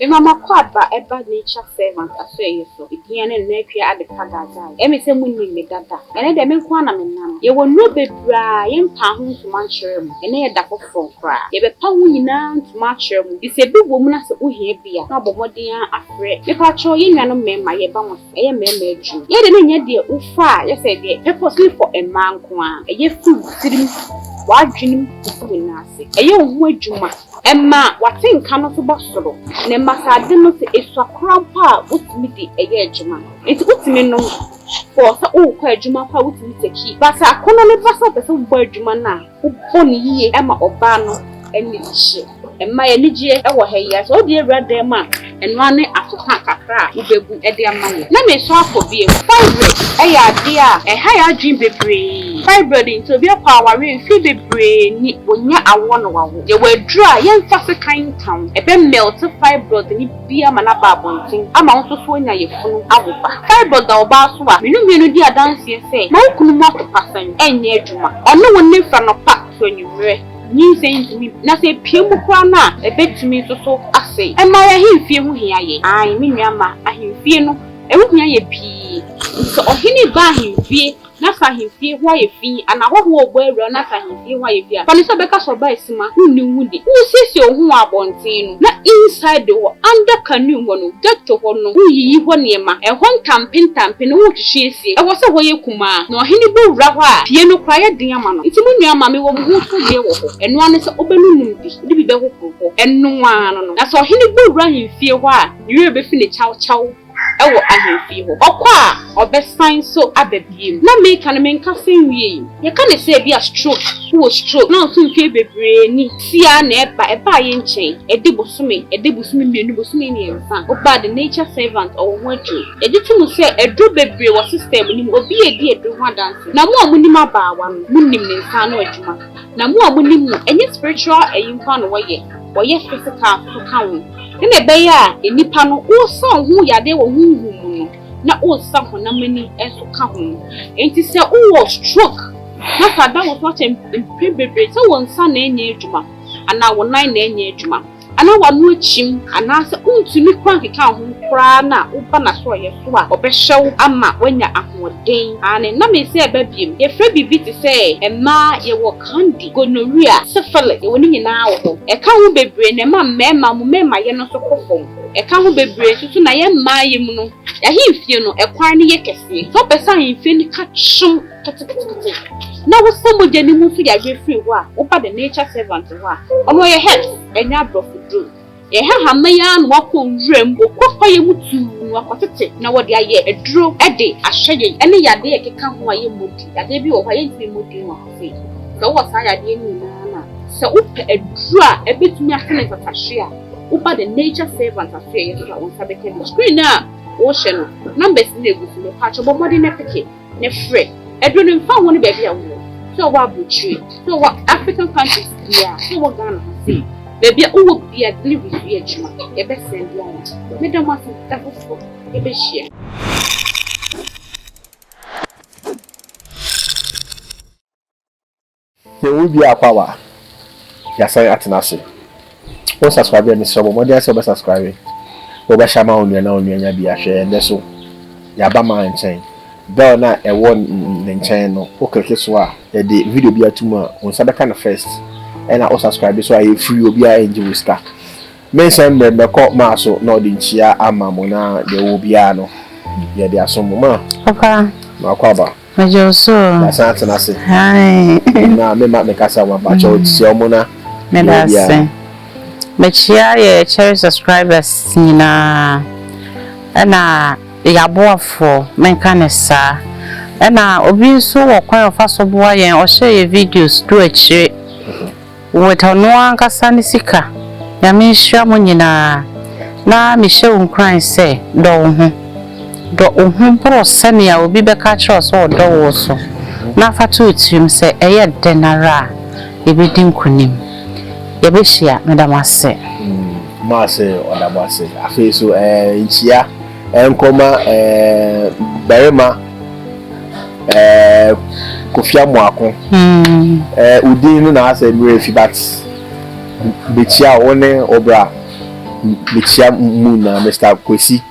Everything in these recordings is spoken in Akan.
Mema makɔ aba ɛba nature servant asɔeɛ so ɛdin ɛne nnɛ atwea ade pa dadae ɛme sɛ mo nnim me dada ɛnɛ dɛ me nko ara na me nam yɛwɔ nnuro bebraa yɛ mpaa ho ntoma nkyerɛ mo ɛnɛ yɛ da hɔ frɔmm koraa yɛ bɛpa ho nyinaa ntoma akyerɛ mo gye sɛ ɛbi wɔ mu na sɛ wo hia bi a na bɔ mmɔden ara afrɛ me pakyɛw yɛ nnuanom mɛma yɛ ba mo ɛyɛ mmarima adwuma. Yɛ deɛ na ɛnyɛ deɛ wo fa a yɛ sɛ deɛ purposely for mmaa nko ara, ɛyɛ firi wo tirim, w'adwene mu kɔsi wo nan ase. Ɛyɛ wo ho adwuma. Ɛma w'atenka no nso ba soro na ɛma sɛ ade no sɛ ɛsua koraa mpo a wotumi de ɛyɛ adwuma. Nti wotumi nom for sɛ worekɔ adwuma mpo a wotumi saki. But sɛ akɔnnɔ no ba sɛ wopɛ sɛ wobɔ adwuma no a, Wobɔ no yie ma ɔbaa no ani gye. Mmaa, yɛn ani gye wɔ ha yi ara. Sɛ wode awura dan mu a, ɛno ara ne afeha kakra a wobɛbu de ama no. Na meresan akɔ bio. Fibroid yɛ adeɛ a ɛha yɛn adwene bebree. Fibroid nti, obi akɔ awareɛ mfeɛ bebree ni, ɔnya awoɔ na wawo. Yɛwɔ aduro a yɛmfa sekan nka ho, ɛbɛ mɛlte fibroid no bi. bi ama no aba abɔnten ama wo nso so anya yafunu awo ba. Cyborg da ɔbaa so a me no mmienu di adanseɛ sɛ ma wo kunu mu atopasan nyɛ adwuma. Ɔne wo nne fra nɔpa to anwummerɛ. Nyinsɛn ntumi bi na sɛ epue mu koraa no a ɛbɛtumi nso so asɛe. Ɛmma yɛn ahemfie ho hia yɛn. Aane, me nua mma, ahemfie no, ɛho hia yɛn pii. Sɛ ɔhene reba ahemfie N'asahemfie hɔ ayɛ fi, anaa hɔho a ɔbɔ awura n'asahemfie hɔ ayɛ fi a, fa no sɛ bɛka sɛ ɔbaa asima, wonni wo ho di. Woresiesie wo ho wɔ abɔnten no, na inside hɔ, under canoe hɔ no, ghetto hɔ no, woreyiyi hɔ nneɛma, ɛhɔ ntampe ntampe no woretwetwe asie, ɛwɔ sɛ hɔ yɛ kumaa, na ɔhene bɔ wura hɔ a, fie no koraa yɛ den ama no. Nti mo nua mma, mewɔ mo ho so deɛ wɔ hɔ, ɛno ara ne sɛ wobɛnonom bi, wode bi bɛhohoro hɔ, ɛno ara no no. Na sɛ ɔhene bɔ wura ahemfie hɔ a, ne werɛ bɛfi no kyawkyaw. wɔ ahemfie hɔ. Ɔkɔ a, ɔbɛsan nso aba bio. Na meka no, menkasa nwiei. Yɛka no sɛ ebia stroke, wowɔ stroke, na wo nso mfe bebree ni, siaa na ɛba. Ɛbaa yɛn nkyɛn, ɛde bosome, ɛde bosome mmienu, bosome mmiɛnsa. Wobaa The Nature Servant, ɔwɔ ho aduro. Yɛgye to mu sɛ aduro bebree wɔ system no mu. Obi a edi aduro ho adanse, na mo a monim abaawa no, monim ne nsa ano adwuma. Na mo a monim no, ɛnyɛ spiritual ayi nko ara na wɔyɛ, wɔyɛ physical nso ka ho. Sɛnea ɛbɛyɛ a nnipa no wosa wɔn ho yadeɛ wɔ honhom mu no, na wosa honam ani nso ka ho. Enti sɛ wowɔ stroke na sɛ ada wo so akyɛ mpɛn bebree sɛ wo nsa na ɛnyɛ adwuma anaa wo nan na ɛnyɛ adwuma anaa w'ano akyim anaasɛ wontumi kura nkeka wo ho koraa na woba n'asorɔeɛ so a, ɔbɛhyɛ wo ama woanya ahoɔden. Aane, na mese ɛba biom. Yɛfrɛ biribi te sɛ mmaa yɛwɔ. Kandi, gonorrhea, syphilis, yɛwɔ ne nyinaa wɔ hɔ. Ɛka ho bebree na ɛma mmarima mu mmarimayɛ no nso kɔ fam. Ɛka ho bebree nso so na yɛn mmaayɛ mu no, yɛn ahemfie no, ɛkwan no yɛ kɛseɛ. Sɛ wopɛ sɛ ahemfie no ka kyem ketekete na wosa mogya no mu nso yareɛ firi hɔ a, woba the nature servant hɔ a, ɔno ɔyɛ herbs, ɛnyɛ aborɔfo duro. Yɛn hahama yi ara na wɔkɔ wuram, wɔkɔ kwaeɛ mu tumm akɔtete, na wɔde ayɛ aduro de ahwɛ yɛn, ɛne yadeɛ a ɛkeka ho a yɛmmɔ din. Yadeɛ bi wɔ hɔ a yɛntumi mmɔ din wɔ ha sei. Sɛ wowɔ saa yadeɛ no nyinaa no a, sɛ wopɛ aduro a ɛbɛtumi asa ne ntatahweɛ a, woba The Nature Saver ntatahweɛ yɛ so a, wo nsa bɛka bi. Screen no a wohyɛ no, numbers no na ɛgu so. Mepaakyɛw bɔ mmɔden na peke. ne frɛ ɛduro no mfa ho ne baabi a wowɔ sɛ ɔwɔ abrokyire sɛ ɔwɔ African countries bia sɛ ɔwɔ Ghana ha sei baabi a wowɔ bia delivery so yɛ adwuma yɛbɛ sɛn de ama meda mo ase da foforɔ yɛbɛhyia. Sɛ wo wie a kɔ awa yasan atena ase wo subscribe a mesrɛ bɔ mmɔden sɛ wobɛ subscribe wo bɛ share ma wo nua na wo nua nya bi ahwɛ ɛndɛ so yaba ma nkyɛn bell na ɛwɔ ne nkyɛn no wo click so a yɛde video bi ato mu a wo nsa bɛka no first ɛna wo subscribe so a yɛ free obi a ɛngye wo sika me nhyɛ mbrɛ mbɛkɔ maa so na ɔde nkyia ama mo na deɛ wɔ biara no yɛde asom mo ma papa makɔ aba Megyɛ wo so o. Yɛasan atena ase. Aane. Na me ma me kasa wa ba kyɛw kyia ɔmo na. Meda ase. Mekyia yɛ Cherry subscribers nyinaa ɛna yɛ aboafoɔ menka no saa ɛna obi nso wɔ kwan ɔfa so boa yɛn ɔhyɛ yɛ videos du akyire. With ɔno ankasa ne sika. Nyame nhyira mo nyinaa. Na mehyɛ wo nkuran sɛ, dɔ wo ho. Dɔ wo ho boro sɛnea obi bɛka akyerɛ wo sɛ ɔdɔ wo so. Na fa to wo tirim sɛ, ɛyɛ dɛn ara a, yɛbɛdi nkonim. Yɛbɛhyia. Meda mo ase. Mma ɔse ɔda mo ase. Afei nso, ɛɛ, nkyia. Ɛnkɔma ɛɛ barima ɛɛ Kofi Amoako ɛɛ odin no na asɛ mmerɛ fi but mekyia wo ne wo bra mekyia mu nyinaa Mister Kwesi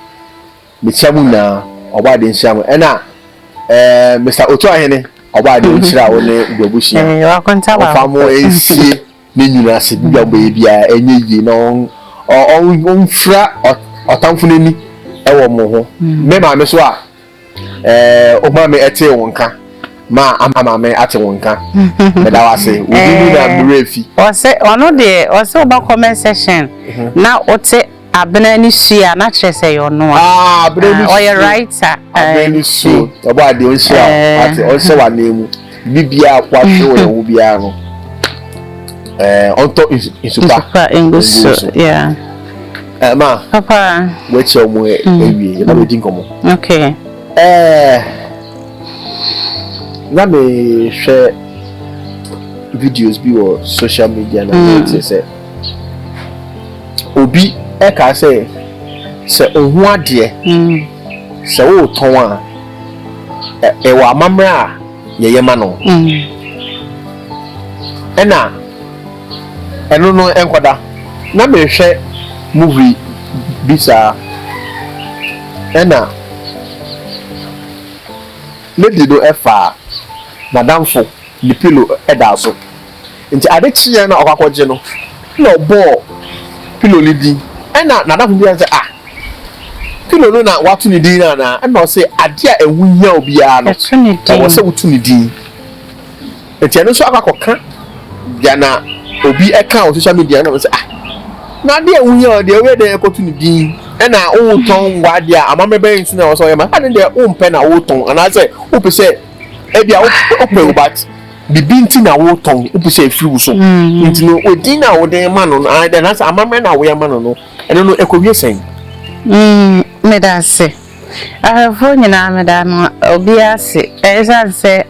mekyia mu nyinaa ɔbɔ adeɛ nhyira mo ɛna ɛɛ Mister Otuahene ɔbɔ adeɛ nhyira wo ne w'abusua ɔfa mo nsie. ne nwunu ase, biribi a ɔbɛyɛ biara ɛnyɛ yie na ɔmfira ɔtamfo no ani wɔ mo ho. Mm. Me maame so a, ɛɛ eh, ɔmaa me ɛtee wɔn nka maa ama maame ate wɔn nka. Meda wo ase, obi mu na eh, mmerɛ fi. Ɔsɛ ɔno deɛ ɔsɛ ɔba comment section mhm. na ɔte. Abena ni su a na kyerɛ sɛ yɛ ɔno a. Ah abena ni su. Ɔyɛ writer. Abena ni su. Ɔbɔ adeɛ ɔnhyira ate ɔnhyɛ wɔ anan mu. Bi biara akɔ ahwɛ wɔ yɛn ho biara no. Ɔntɔ nsupa. Nsupa ngu so. Ɛɛ ma. Papa. Wɔakyia wɔn awie yɛ na wɔadi nkɔmɔ. Okay. Ɛɛ na mehwɛ videos bi wɔ social media na mete sɛ. obi ɛka sɛ sɛ ohu adeɛ mm. sɛ wotɔn a ɛwɔ e, e amammerɛ a yɛyɛ ma no mm. ɛna ɛno no ɛnkɔda na mehwɛ movie bi saa ɛna lady no ɛfaa nadamfo ne pilo ɛda so Ntsi adze kyeeɛ na ɔkɔ akɔgye no na ɔbɔɔ pillow no dzin. Nna n'adamfo bisa no dɛ, Ah, pillow no na wɔato ne dzin no anaa? Nna ɔse, Adze a wo hia obiara no, ɔwɔ sɛ woto ne dzin. Ntsi ɛno so akɔ akɔkã dza na obi kã wɔ social media no, nna ɔse, Ah, na adze a wo hia ɔno deɛ ɔyɛ dɛn kɔto ne dzin? Nna wotɔn mboadze a amambra bɛn so na ɔwɔ sɛ ɔyɛ ma? Adze no deɛ wompɛ na wotɔn, anaasɛ wopɛ sɛ, bi a wopɛ o but. Bibi nti na wotɔn wopɛ sɛ ɛfiri wo so nti no edin a wode ma no no anaasɛ amammerɛ no a woyɛ ama no no ɛno no ɛkɔwie sɛn? Meda ase. Ahwɛfoɔ nyinaa meda no obiara ase. Ɛsiane sɛ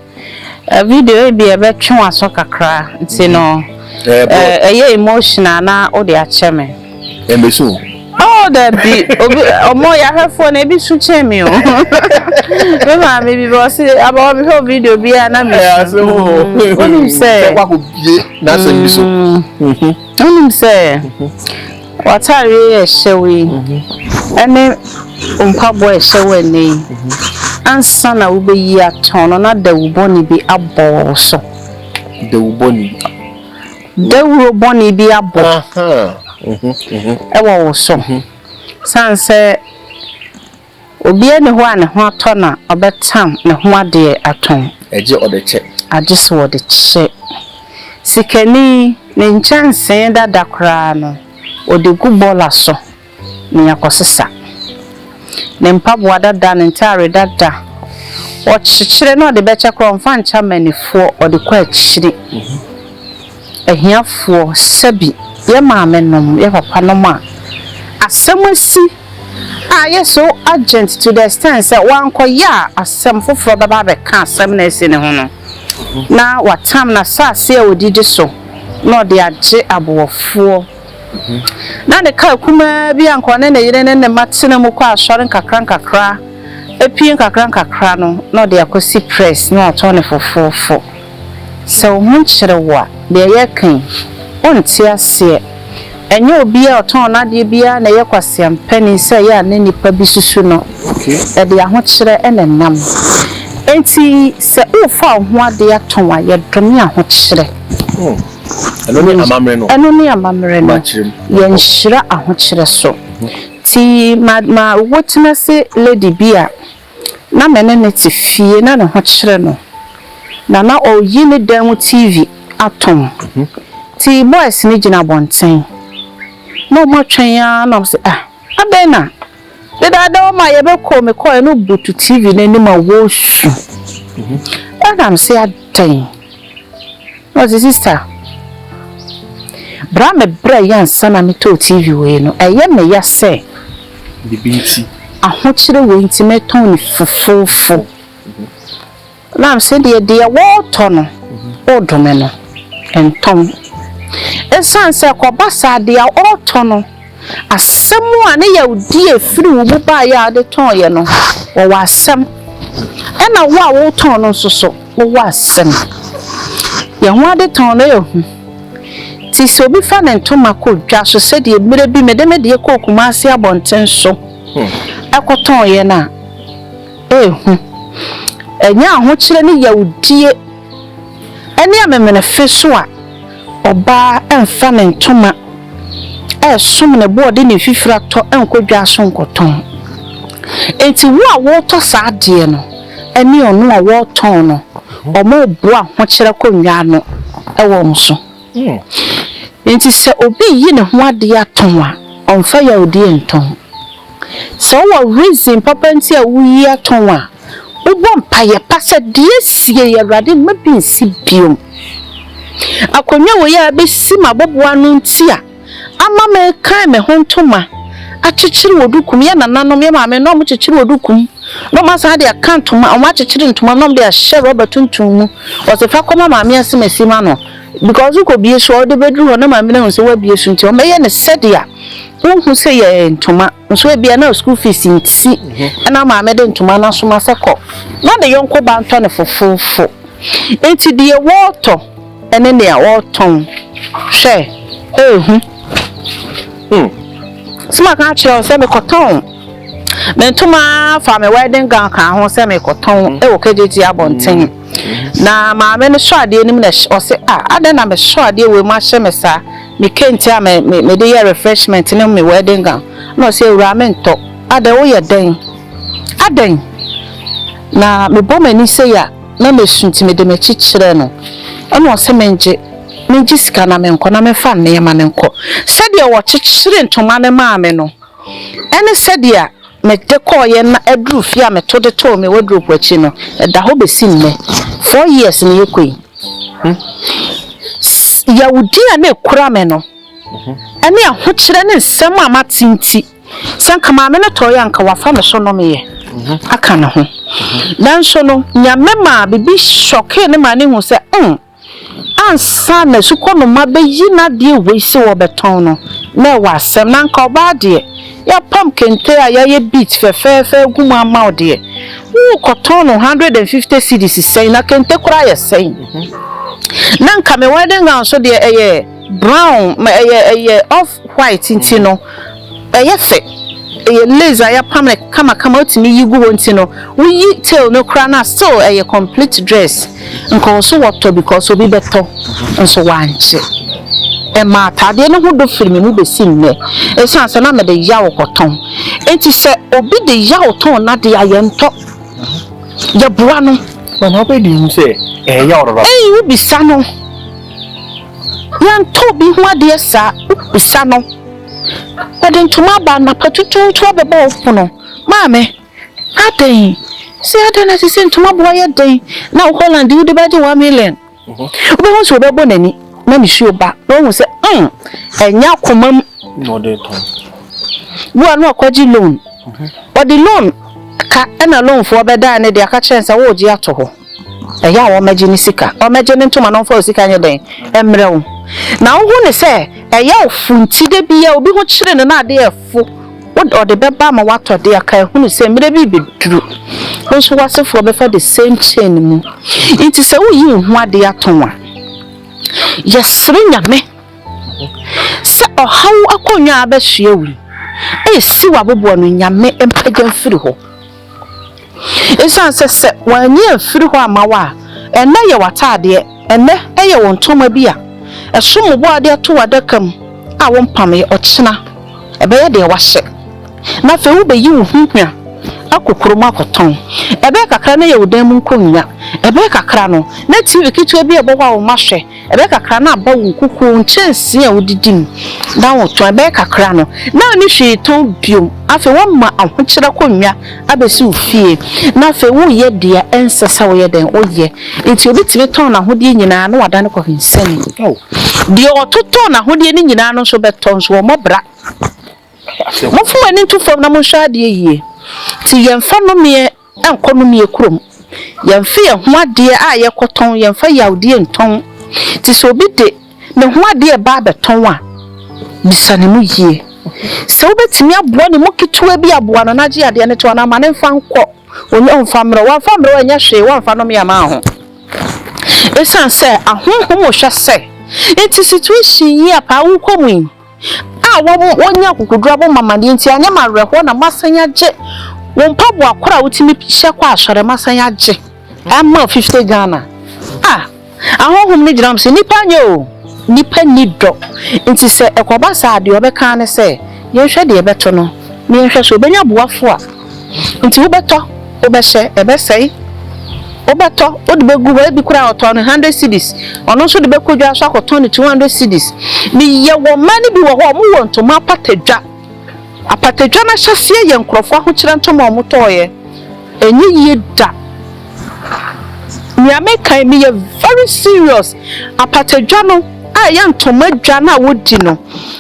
video yi bi ɛbɛtwe w'aso kakra nti no ɛyɛ emotional na wode akyɛ me. Ɛmɛ so. Oh, dabi, obi, ọmọ yahwɛfoɔ na ebi so kyɛn mi o. Me maame bi bɛ ɔsi abawa mi hwɛ video bi a na mi. Ɛ ase o. Onim sɛ. Bɛ kɔ akɔ bie n'asɛm bi so. Onim sɛ. W'ataare yɛ ɛhyɛw yi. Ɛne mpaboa ɛhyɛ wɔ ɛnɛ yi. Ansa na wobɛyi atɔn no na dawubɔni bi abɔ so. Dawubɔni. Dawuro bɔne bi abɔ wɔ wo so. Ɛsiane sɛ obiara nni hɔ a ne ho atɔ na ɔbɛtam ne ho adeɛ atɔn. Agye ɔde kyɛ. Agye sɛ ɔde kyɛ. Sikani, ne nkyɛnsee dada koraa no, ɔde gu bɔɔla so. na yɛakɔsesa ne mpaboa dada, ne ntaare dada, ɔkyekyere na ɔde bɛkyɛ koraa ɔmfa nkyɛ amannifoɔ, ɔde kɔ akyiri, ahiafoɔ, sɛbi yɛ maamenom, yɛ papanom a asɛm asi a ayɛ so urgent to the extent sɛ wankɔyɛ a asɛm foforɔ bɛba abɛka asɛm na asi ne ho no na watam n'asaase a ɔdidi so na ɔde agye aboɔfoɔ. Ná ne kar kumaa bi a anka ɔne ne yere ne ne mma tena mu kɔ asɔre nkakrankakra, pue nkakrankakra no, na ɔde akosi press na watɔn no fofofo. Sɛ wo ho kyere wo a, deɛ yɛreka yi, wonte aseɛ. Ɛnyɛ obiara a ɔtɔn n'adeɛ biara na ɛyɛ kwaseampani sɛ ɛyɛ a na nnipa bi susu no. Ɛde ahokyerɛ na ɛnam. Enti sɛ worefa wo ho adeɛ atɔn a, yɛdome ahokyerɛ. Ɛno ne amammerɛ no. Ɛno ne amammerɛ no. Yɛnhyira ahokyerɛ so. Nti ma ma wo tena se lady bi a na me ne no te fie na ne ho kyere no na na ɔyi ne dan mu TV atom. Nti boys no gyina abɔnten na wɔatwɛn ara na wɔse ah. Adɛn na dedaada wɔn a yɛbɛkɔ mekɔɛ no butu TV no anim a wɔresu? Branham se adɛn? Na ɔse, Sista, berɛ a mebrɛɛeɛ ansa na metɔɔ TV wei no, ɛyɛ me ya sɛ ahokyere wei nti metɔn no fofoofo. Nam sɛ deɛ deɛ wɔretɔ no redome no ntɔn. Ɛsiane sɛ ɛkɔba saa deɛ a ɔretɔ no asɛm a ne yawdie a ɛfiri wo mu baeɛ a wode tɔeɛ no wɔwɔ asɛm ɛna wo a woretɔn no nso so wowɔ asɛm. Yɛn ho adetɔn no yɛ hu. Nti sɛ obi fa ne ntoma kɔ dwa so sɛdeɛ mmerɛ bi mede me deɛ kɔɔ Kumase abɔnten so ɛkɔtɔeɛ no a, rehu. Ɛnyɛ ahokyerɛ ne yawdie ne amemenefe so a ɔbaa remfa ne ntoma resom ne bo a ɔde ne mfifire atɔ nkɔ dwa so nkɔtɔn. Enti wo a woretɔ saa adeɛ no ne ɔno a ɔretɔn no, wɔreboa ahokyerɛ kɔnnwa ano wɔ wo so. Enti sɛ obi reyi ne ho ade atɔn a, ɔmfa yawdie ntɔn. Sɛ wowɔ reason papa nti a woreyi atɔn a, wobɔ mpaeɛ pa sɛ, Deɛ siei, Awurade, mma bi nsi bio. Akonnwa wei a abɛsi m'aboboano nti a, ama me kan me ho ntoma akyekyere wɔ duku mu. Yɛ nananom, yɛ maame na wɔn kyekyere wɔ duku mu na wɔn asan de aka ntoma, wɔn akyekyere ntoma mu na wɔn de ahyɛ rɔba tuntum mu. Wɔsi fa kɔma maame ase ma si ma no because wokɔ bie so a ɔde bɛ duru hɔ na maame no ahu sɛ wabie so nti wɔn bɛyɛ no sɛdeɛ wohu sɛ yɛ ntoma nso ebia na school fees nti ɛna mhm. maame de ntoma no asoma sɛ kɔ na de yɔnko ba ntɔ ne fofoofo nti deɛ wɔɔtɔ. Ɛne nea wɔtɔn hwɛ rehu. Hmm. So maka akyerɛ wo sɛ mekɔtɔn me ntoma fa me wedding gown ka ho sɛ mekɔtɔn hmm. wɔ kegyegye abɔnten. Hmm. Na maame no sɔ adeɛ anim na ɔse a ah, adɛn na mesɔ adeɛ wei mu ahyɛ me saa me kente a mede yɛ refreshment ne me wedding gown na ɔse awura mentɔ adɛn woyɛ dɛn adɛn na mebɔ m'ani sɛ yɛ a na mesu nti mede m'akyi kyerɛɛ no. Ɛnna ɔse mengye, mengye sika na menkɔ na memfa nneɛma no nkɔ. Sɛdeɛ wɔkyekyeree ntoma no maa me no ne sɛdeɛ mede kɔeɛ na aduru fie a meto de too me wardrobe akyi no, ɛda hɔ bɛsi nnɛ. Four years na ɛkɔ yi. Yawudie a na ɛkura me no ne ahokyerɛ ne nsɛm a mate nti, Sɛ anka maame no tɔeɛ a, anka wafa ne so nomeeɛ aka ne ho. Nanso no, Nyame maa biribi hyɔkee no maa no hu sɛ, hmm, ansa na Asukɔnoma bɛyi n'adeɛ wei sɛ wɔbɛtɔn no, na ɛwɔ asɛm. Na anka ɔbaa deɛ, yɛapam kente a yɛayɛ beads fɛfɛɛfɛ agu mu ama wo deɛ, worekɔtɔn no hundred and fifty cedis sɛn? Na kente koraa yɛ sɛn? Na anka me wedding gown nso deɛ, ɛyɛ. Brown, ma ɛyɛ ɛyɛ off white nti no ɛyɛ fɛ ɛyɛ lace a yɛapam no kamakama wotumi yi gu hɔ nti no woyi tail no koraa no a still ɛyɛ complete dress nkɔɔso wɔtɔ because obi bɛtɔ nso wankye ɛma ataadeɛ no ho dɔ firi me mu bɛsi nnɛ ɛsiane sɛ na mede yaw kɔtɔn nti sɛ obi de yaw tɔn n'adeɛ a yɛntɔ yɛboa no. Mama wobɛdi hu sɛ ɛyɛ yaw dodo. Ɛyi wobisa no. Yɛntɔ obi ho adeɛ saa, wobisa no. Ɔde ntoma aba anapa tutuutu abɛbɔ wo pono. Maame, adɛn? Sɛ adɛn na sɛ sɛ ntoma boa yɛ dɛn na wo Holland wode bɛgye one million. Wobɛhu sɛ wobɛbɔ n'ani na ne suo ba na wahu sɛ mm, ɛnyɛ akoma mu. Na ɔde tɔn. Wua no akɔgye loan. Ɔde loan ka ɛna loanfoɔ bɛdaa ne de aka kyerɛ sɛ wogye ato hɔ. Ɛyɛ a wɔmmɛgye ne sika. Wɔmmɛgye ne ntoma na wɔmfa wo sika nyɛ dɛn? Mmrɛ wo. Na wohu no sɛ ɛyɛ wo fo nti, da biara obi ho kyere no na adeɛ refo, ɔde bɛba ama woatɔ adeɛ aka ahu no sɛ mmerɛ bi rebɛduru, wo nso w'asefoɔ bɛfa the same chain mu. Nti sɛ woreyi wo ho adeɛ atɔn a, yɛsrɛ Nyame sɛ ɔhaw akonnwa a abɛsoɛ wo yi, ɛresi w'aboboano, Nyame mpagya mfiri hɔ. Esiane sɛ sɛ wɔanyi amfiri hɔ amma wo a, ɛnnɛ yɛ w'ataadeɛ, ɛnnɛ ɛyɛ wo ntoma bi a ɛsom bo a wode ato w'adaka mu a wompameeɛ, ɔkyena ɛbɛyɛ deɛ woahyɛ, na afei wobɛyi wo ho hwa akɔ kurom akɔtɔn. Ɛbɛyɛ kakra na ɛyɛ wo dan mu nkonnwa, ɛbɛyɛ kakra no na TV ketewa bi a ɛbɔ hɔ a wo mma hwɛ. Ɛbɛyɛ kakra na aba wo nkukuo nkyɛnsee a wodidi mu na wotɔn, ɛbɛyɛ kakra no na wonni hwee tɔn bio. Afei wɔama ahokyerɛ akonnwa abɛsi wo fie, na afei woreyɛ deɛ ɛnsɛ sɛ woyɛ dɛn? Woyɛ. Enti obi tumi tɔn n'ahodeɛ nyinaa na wadane kɔhwensani. Ao, deɛ ɔtotɔɔ n'ahodeɛ no nyinaa no nso bɛtɔ, nso wɔmmɔ bra. Momfa mo ani nto fam na monhwɛ adeɛ yie. Enti yɛmfa nnomeɛ nkɔ nnommeɛ kurom. Yɛmfe yɛn ho adeɛ a yɛkɔtɔn, yɛmfa yawdeɛ ntɔn. Nti sɛ obi de ne ho adeɛ ba abɛtɔn a, bisa ne mu yie. Sɛ wobɛtumi aboa ne mu ketewa bi a, boa no na gye adeɛ no to anaa ma no mfa nkɔ. Ɔnnya ɔmfa mmrɛ wo. Wamfa ammrɛ wo a, ɛnyɛ hwee, woamfa nnome amma ho. Ɛsiane sɛ ahonhom hwɛ sɛ nti situation yi a paa worekɔ mu yi, a wɔanya akokoduru abɔ mo amanneɛ nti, anyɛ mo awerɛhoɔ na moasan agye wo mpaboa korɔ a wotumi hyɛ kɔ asɔre, moasan agye ama wo fifty Ghana. Ah! Ahonhom no gyina hɔ sɛ, Nnipa nyɛ o, nnipa nni dɔ. Nti sɛ ɛkɔba saa a, deɛ wɔbɛka ara ne sɛ, Yɛnhwɛ deɛ yɛbɛto no, na yɛnhwɛ sɛ ɔbɛnya boafoɔ a. Nti wobɛtɔ, wobɛhyɛ, ɛbɛsɛe, wobɛtɔ, wode bɛgu hɔ, ebi koraa ɔtɔɔ no hundred cedis, ɔno nso de bɛkɔ dwa so akɔtɔn no two hundred cedis. Meyɛ wɔ mmaa no bi wɔ hɔ a wɔwɔ ntoma apatadwa, apatadwa no ahyɛseɛ yɛ nkurɔfoɔ ahokyerɛ ntoma a wɔtɔeɛ, ɛnyɛ yie da. Nea meka yi meyɛ very serious, apatadwa no a ɛyɛ ntoma dwa no a wɔdi no,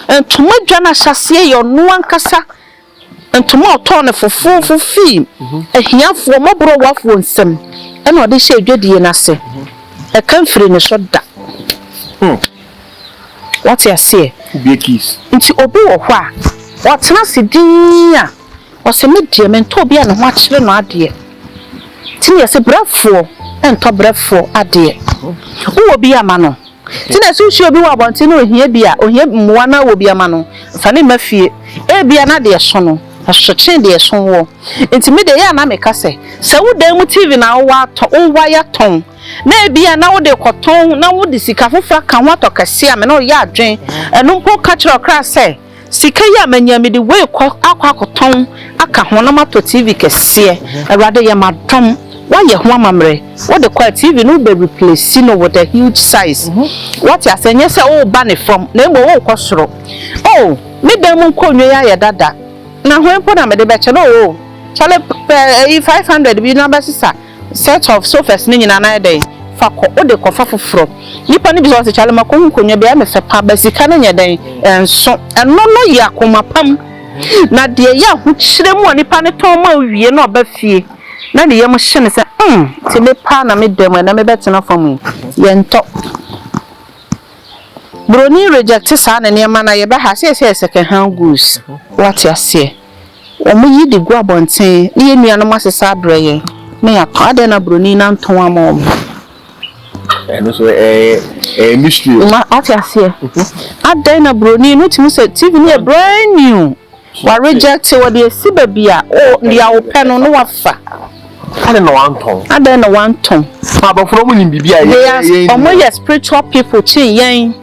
ntoma dwa no ahyɛseɛ yɛ ɔno ankasa, Ntoma a ɔtɔɔ no fofoofo fii ahiafoɔ mmɔborɔwafoɔ nsam na ɔde hyɛɛ dwadie no ase. Ɛka mfirii ne so da. Woate aseɛ? Nti obi wɔ hɔ a, ɔtena ase dinn a, ɔse, Me deɛ, mentɔ obi a ne ho akyere no adeɛ. Nti na yɛse, Brɛfoɔ ntɔ brɛfoɔ adeɛ. Wowɔ bi a, ma no. Sɛ na ɛso nsuo bi wɔ abɔnten na ɔhia bi a, ɔhia mmoa na awɔ bi ama no, mfa no mma fie. Ebia na deɛ ɛso no, ɛso kyɛn deɛ ɛso woɔ. Enti me deɛ, ɛyɛ a na meka sɛ, sɛ wo dan mu TV na wowɔ atɔ, wowɔ ayɛ atɔn, na ebia na wode rekɔtɔn na wode sika foforɔ aka ho atɔ kɛseɛ a, me ne wo yɛ adwene. Ɛno mpo ka kyerɛ ɔkra sɛ. Sika yi a manya yi, mede wei kɔ akɔ akɔtɔn aka ho na matɔ TV kɛseɛ. Awurade yɛ m'adom, woayɛ ho amammerɛ. Wode kɔ a, TV no wobɛ replace no with a huge size. Woate aseɛ? Nyɛ sɛ woreba ne fam, na mmom worekɔ soro. Oh, me dan mu nkonnwa yi ayɛ dada, na hwan mpo na mede bɛkyɛ no? Oh, kyale pɛ ɛyi five hundred bi na bɛsesa. Set of sofas no nyinaa no ayɛ dɛn? Fa kɔ, wode kɔ fa foforɔ. Nnipa no bisa wo sɛ, Charlie ma kɔhu nkonnwa bi a, ɛyɛ me fɛ paa, but sika no nyɛ dɛn? Ɛnso. Ɛno no yɛ akoma pam. Na deɛ ɛyɛ ahokyerɛ mu a nipa no tɔn ma wo wie na ɔba fie na ne yam hye no sɛ, mm, te me paa na me da mu ɛnɛ mebɛtena fam yi. Yɛntɔ. Buroni reject saa ne nneɛma no a, yɛbɛha a, seesei yɛ second hand goods. Woate aseɛ? wɔyi de gu abɔnten ne yɛn nuanom asesa abrɛ yɛn na yɛatɔn, adɛn na broni no antɔn ama wɔn? ɛno so ɛyɛ ɛyɛ mystery o. ma ɔte aseɛ adɛn na broni no tumi sɛ tv no yɛ brand new wa reject wɔde asi baabi a o deɛ wopɛ no na wafa adɛn na wantɔn adɛn na wantɔn abɔfra wɔn nim biribi a yɛn yɛn wɔn yɛ spiritual people kyen yɛn.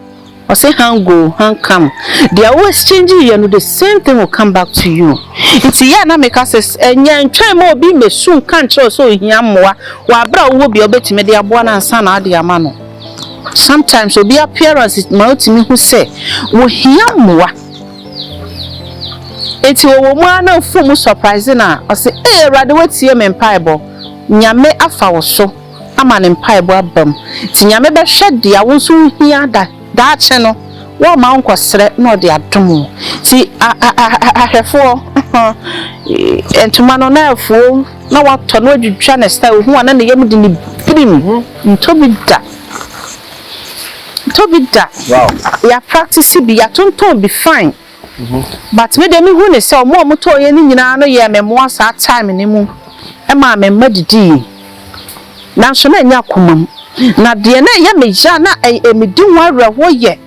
Ɔse han go han come deɛ wo exchange yɛ no the same thing will come back to you nti yɛ a na meka sɛ ɛnyɛ ntwɛn ma obi mɛsu nka nkyerɛ wo sɛ ohia mmoa wɔ aberɛ a wowɔ bi a wobɛtumi de aboa no ansa na wode ama no sometimes obi appearance ma wotumi hu sɛ wohia mmoa nti wɔwɔ mu a na mfo mu surprise no a ɔse ee awurade watie me mpaebɔ nyame afa wo so ama ne mpaebɔ abam. Nti Nyame bɛhwɛ dea wo nso wo hia da daakye no, wɔmma wo nkɔ srɛ na ɔde adom wo. Nti ahwɛfoɔ ee, ntoma no na afuo na watɔ na wadwidwa ne style, ohu a na ne yam de ne birim, ntɔ bi da, ntɔ bi da, yɛ a practice bi, yɛ atontɔn bi, fine. But me de me hu ne sɛ ɔmo a ɔmo tɔɔ yɛn no nyinaa no yɛɛ me mmoa saa time no mu ɛmaa me mma didiiɛ. Nanso na ɛnyɛ akoma mu. Na deɛ na ɛyɛ me ya na ɛyɛ me di ho awerɛhoɔ yɛ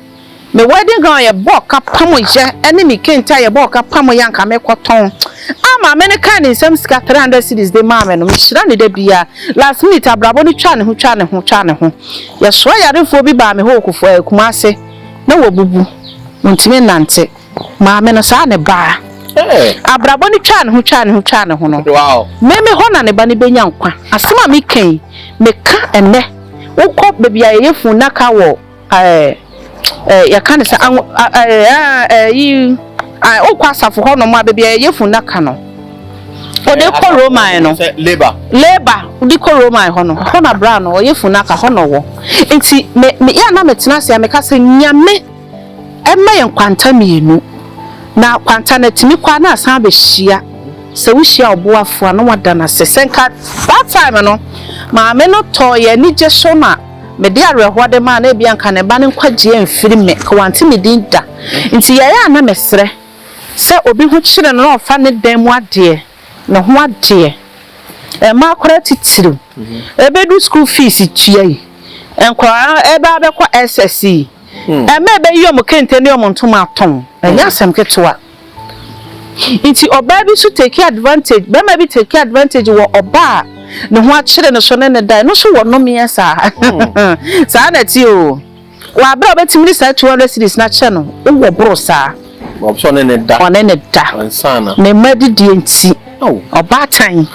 me wedding gown a yɛbɔ ɔka pam yɛ ɛne me kente a yɛbɔ ɔka pam yɛ a nka me kɔ tɔn a maame no kaa ne nsam sika three hundred cedis de maa me no me hyira ne da biara last minute abrabɔ no twaa ne ho twaa ne ho twaa ne ho yɛsoa yarefoɔ bi baa me hɔ wɔ Kumasi. Na wabubu, ɔntumi nnante. Maame no, saa ara na ɛbaa. Abrabɔ no twaa ne ho, twaa ne ho, twaa ne ho no, me me hɔ na ne ba no bɛnya nkwa. Asɛm a meka yi, meka ɛnnɛ. Wokɔ baabi a yɛyɛ funnaka wɔ ɛɛ ɛɛ yɛka no sɛ anwo ɛɛ ɛɛ ɛyi wokɔ asafo hɔnom a baabi a yɛyɛ funnaka no. wɔde kɔ roman no labour labour wɔde kɔ roman hɔ no hɔ na bra no ɔyɛ funu aka hɔ na ɔwɔ nti me me yɛ na me tena ase a meka sɛ nyame ɛma yɛn kwanta mmienu na kwanta na tumi kɔ a na asan abɛhyia sɛ wohyia ɔboafoɔ a na wada no ase sɛ nka that time no maame no tɔɔ yɛ anigye so na mede awerɛhoɔ de maa na ebia nka ne ba no nkwagyeɛ mfiri me ka wante me din da nti yɛyɛ a na mesrɛ Sɛ obi ho kyere no na ɔfa ne dan mu adeɛ, ne ho adeɛ, mmaa koraa titiriw, ɛbɛduru sukuu fees tua yi, nkwadaa no ɛbɛ abɛkɔ SS yi, mma ɛbɛyi wɔn kente ne wɔn ntoma atɔn, ɛnyɛ asɛm ketewa. Nti ɔbaa bi nso take advantage, barima bi take advantage wɔ ɔbaa a ne ho akyere no so ne ne dan no so wɔ nomeɛ saa. Saa na ɛte oo. Wɔ bere a wobetumi de saa two hundred cedis no akyɛ no, wowɔ boro saa. Wɔpɛ sɛ ɔne ne da. Ɔne ne da. Ansa na. Ne mma adidie nti. Ao. Ɔbaatan.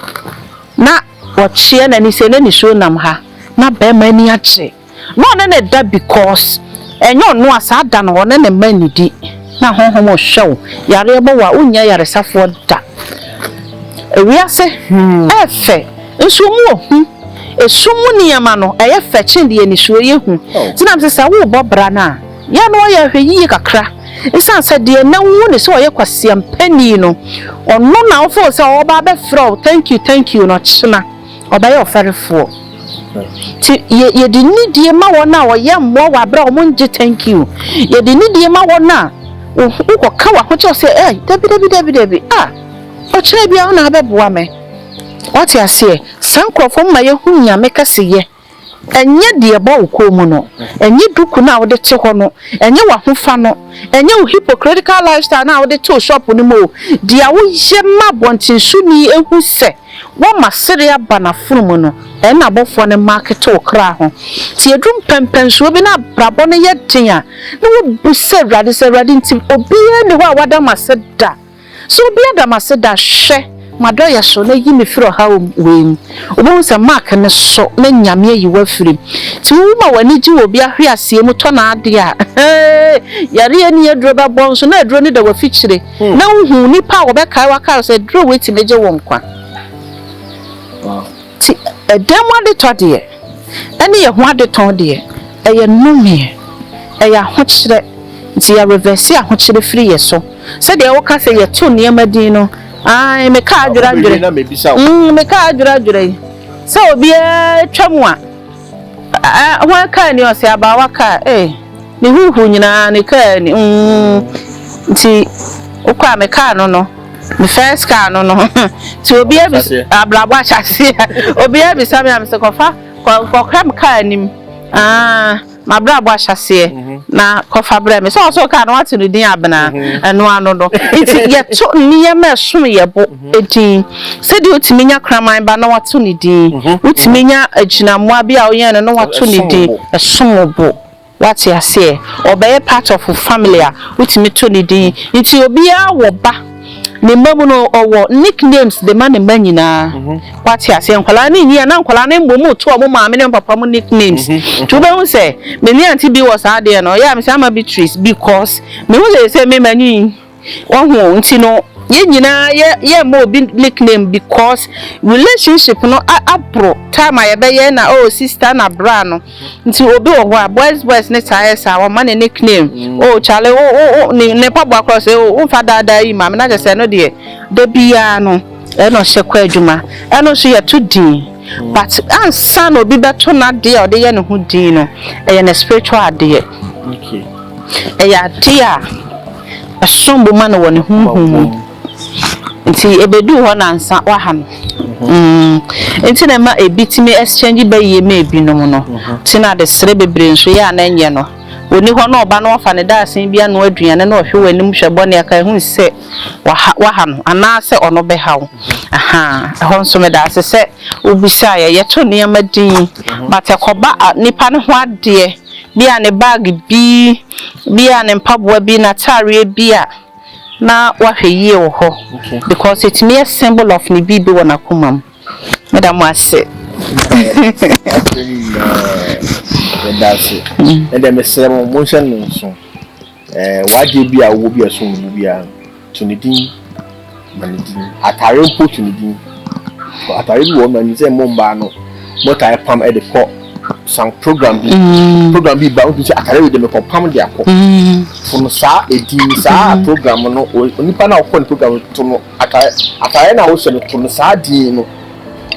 Na ɔkyeɛ n'ani sɛ na nisuo nam ha. Na barima ani agye. Na ɔne ne da because ɛnyɛ ɔno a saa da no ɔne ne mma nnidi. Na honhom rehwɛ wo. Yareɛ bɔ wo a, wonnya ayaresafoɔ da. Ewiase. Ɛyɛ fɛ. Nsuo mu ɔhu, esum mu nneɛma no, ɛyɛ fɛ kyɛn deɛ nisuo yɛ hu. Nti na mese sɛ worebɔ bra no a, yɛ a na woayɛ ahwɛyie kakra. Esiane sɛ deɛ na wohu no sɛ ɔyɛ kwaseampani no, ɔno na wofoo sɛ ɔreba abɛfrɛ wo thank you thank you no, ɔkyena ɔbɛyɛ ɔfɛrefoɔ. Nti yɛ, yɛde nidie ma wɔn a wɔyɛ mmoa wɔ aberɛ a wɔngye thank you. Yɛde nidie ma wɔn a wohu, wokɔka w'ahokyerɛ sɛ, Ei, dabi dabi dabi dabi, ah, ɔkyena biara wo na abɛboa me. Wate aseɛ? Saa nkorɔfoɔ no ma yɛhu Nyame kɛseyɛ. Ɛnyɛ deɛ ɛbɔ wo kɔn mu no. Ɛnyɛ duku no a wode te hɔ no. Ɛnyɛ w'ahofa no. Ɛnyɛ wo hypocritical lifestyle no a wode te wo shop no mu o. Deɛ a woyɛ ma abɔntensoni hu sɛ woama sereɛ aba n'afono mu no, ɛno na abɔfoɔ no market wo kra ho. Nti ɛduru mpɛnpɛnsoɔ bi na abrabɔ no yɛ den a, na wobu sɛ Awurade sɛ Awurade nti obiara nni hɔ a wada m'ase da. So obi ada me ase da? Hwɛ, m'adɔeɛ so, na yi me firi ɔhaw wei mu. Wobɛhu sɛ Mark no so na Nyame ayi wo afiri mu. Nti wowu ma w'ani gye wɔ obi ahweaseɛ mu tɔ n'adeɛ a, hee, yareɛ nni aduro bɛbɔ nso na aduro no da w'afikyire, na wohu nnipa a wɔbɛkae wo akae wo sɛ aduro wei tumi gye wo nkwa. Nti ɛdan mu adetɔ deɛ, ɛne yɛn ho adetɔn deɛ, ɛyɛ nnomeɛ, ɛyɛ ahokyerɛ, nti yɛrevɛse ahokyerɛ firi yɛn so. Sɛdeɛ woka sɛ yɛto nneɛma din no, ae, mekaa adwerɛadwerɛ, mm, mekaa adwerɛadwerɛ yi, sɛ obiara twa mu a, eh, hwan kaa ni ɔsɛ abaawa kaa, eh, ne huhu nyinaa ne kaa ni, mm, nti wokɔ a mekaa no no, me first car no no nti obiara bi abrabɔ ahyɛaseɛ obiara bisa me a mesɛ kɔfa kɔkram kaa anim ah. M'abrabɔ ahyɛaseɛ na kɔfa brɛ me. Sɛ ɔwɔ sɛ woka a na woato no din Abena, ɛno ano no. Enti yɛto nneɛma a ɛsono yɛn bo din. Sɛdeɛ wotumi nya kraman ba na woato no din, wotumi nya agyinamoa bi a woyɛn no na woato no din, ɛsom wo bo. Woate aseɛ? Ɔbɛyɛ part of wo family a, wotumi to no din. Enti obiara wɔ ba. Ne mma mu no, ɔwɔ nicknames de ma ne mma nyinaa. Wate aseɛ? Nkwadaa no nyi a, na nkwadaa no mmom reto wɔn maame ne wɔn papa mu nicknames. Nti wobɛhu sɛ, me ne Auntie Bee wɔ saa adeɛ no, ɛyɛ a mese Ama Beatrice because mehu sɛ seesei me manyin. Wahu? Nti no, yɛn nyinaa yɛ yɛrema obi nickname because relationship no aboro time a yɛbɛyɛ na oh sister na bra no. Nti obi wɔ hɔ a boys boys ne saa yɛ saa ɔma ne nickname oh kyale wo wo wo ne ne mpaboa korɔ sɛ oh womfa daa daa yi ma me na kyɛ sɛ ɛno deɛ da biara no ɛna ɔhyɛ kɔ adwuma ɛno nso yɛto din but ansa na obi bɛto n'adeɛ a ɔde yɛ ne ho din no ɛyɛ ne spiritual adeɛ ɛyɛ adeɛ a ɛsom bo ma no wɔ ne honhom mu. Nti ebeduu hɔ na nsa waha no mm nti na ɛma ebi tumi exchange ba yie ma ebinom no nti na adesrɛ bebree nso yɛ a na ɛnyɛ no ɔni hɔ na ɔba na wafa ne daasen bi anoa aduane na ɔhwɛ w'anim hwɛ bɔ ne aka ɛhu sɛ waha waha no anaasɛ ɔno bɛha wo ahaa ɛhɔ nso meda ase sɛ wobisaeɛ yɛto nneɛma din but ɛkɔba nipa no ho adeɛ bi a ne bag bi bi a ne mpaboa bi n'ataareɛ bi a na wahwɛ yie wɔ hɔ because ɛtumi yɛ symbol of ne biribi wɔ n'akoma mu. Meda mo ase. Meda ase. Ɛdɛ mesrɛ mo monhyɛ no nso. W'adeɛ bi a wowɔ bi a ɛsom bo biara no, to ne din ma ne din. Atare mpo to ne din. Atare bi wɔ hɔ no ma nim sɛ mo mmaa no motaa pam de kɔ san program bi mm. program bi ba o tun sɛ atare wei de mekɔ pam de akɔ mm. funu saa edin saa mm. program no onipa na ɔkɔ ne program no to no atare atare na ɔhyɛ no to no saa din no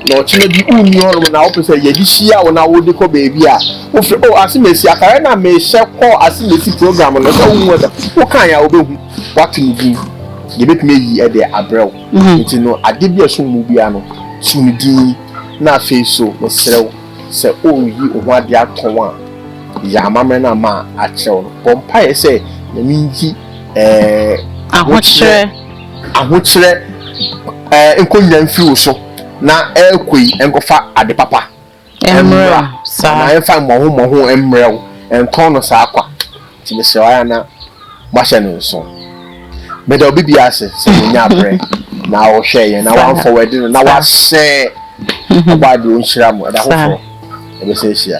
na ɔkyerɛ bi wunni hɔnom na wopɛ sɛ yɛde hyia wo na wode kɔ baabi a wofrɛ o oh, asemesi atare na mehyɛ kɔ asemesi program no sɛ wohu ɛda woka yɛ a wobɛhu woato ne din yɛbɛtumi ayi ɛde abrɛ wo nti no ade bi a ɛsom mu biara no so ne din Na afei so, mesrɛ wo, sɛ woreyi wo ho ade atɔn a, yɛ amammerɛ no a makyerɛ wo no. Bɔ mpaeɛ sɛ Nyame nyi ɛɛ Ahokyerɛ. Ahokyerɛ ɛɛ nkɔnya mfiri wo so, na ɛrekɔ yi nkɔfa ade papa mmra, anaa ɛmfa mmɔho mmɔho mmrɛ wo, ntɔn no saa kwa. Nti mesrɛ wo ara na moahyɛ no nso. Meda obi biara ase sɛ wonyaa berɛ na wohwɛɛ yɛn na woamfa w'adi no na woahyɛ ɔbɔ adeɛ ɔnhyira mo ɛda foforɔ ɛbɛsɛ ahyia.